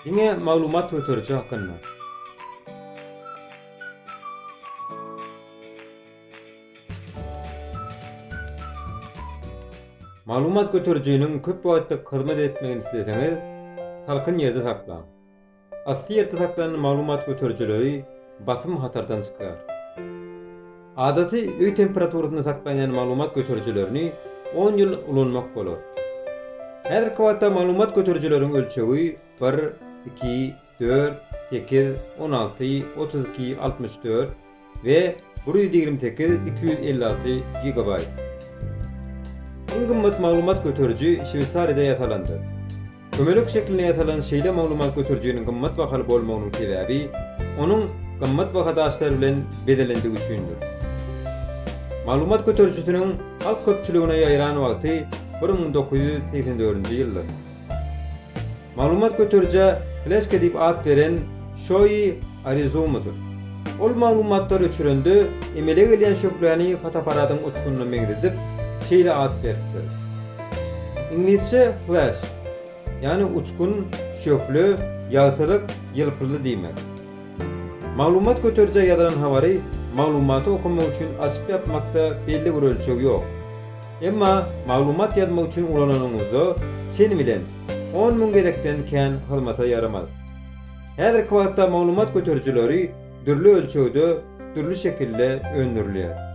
Diňe maglumat göteriji hakynda. Maglumat göterijiniň köp wagtlyk hyzmat etmegini isleseňiz, salkyn ýerde saklaň. Asly ýerde saklanan maglumat göterijileri basym hatardan çykýar. Adaty öý temperaturasynda saklanýan maglumat göterijilerini on ýyl ulanmak bolar. Häzirki wagtda maglumat göterijileriň ölçegi bir, iki, dört, sekiz, on alty, otuz iki, altmyş dört, we bir ýüz ýigrimi sekiz iki ýüz elli alty gigabaýt. Iň gymmat maglumat göteriji Şweýsariýada ýasalandyr. Kömelek şeklinde ýasalan şeýle maglumat göterijiniň gymmat bahaly bolmagynyň sebäbi onuň gymmat baha daşlar bilen bezelendigi üçindir. Maglumat göterijisiniň halk köpçüligine ýaýran wagty bir müň dokuz ýüz segsen dördünji ýyldyr. Maglumat göterijä Fleshka diýip at beren Şoýi Arizumydyr. Ol maglumatlary öçürende, emele gelýän şöhläni fotoapparatyň uçgunyna meňzedip, şeýle at beripdir. Iňlisçe flash, ýagny uçgun, şöhle, ýagtylyk, ýylpyldy diýmek. Maglumat göterijä ýazylan habary maglumaty okamak üçin açyp-ýapmakda belli bir ölçeg ýok. Emma maglumat ýazmak üçin ulananyňyzda çen bilen on müň gezekden kän hyzmata ýaramaz. Häzirki wagtda maglumat göterijileri dürli ölçegde, dürli şekilde öndürilýär.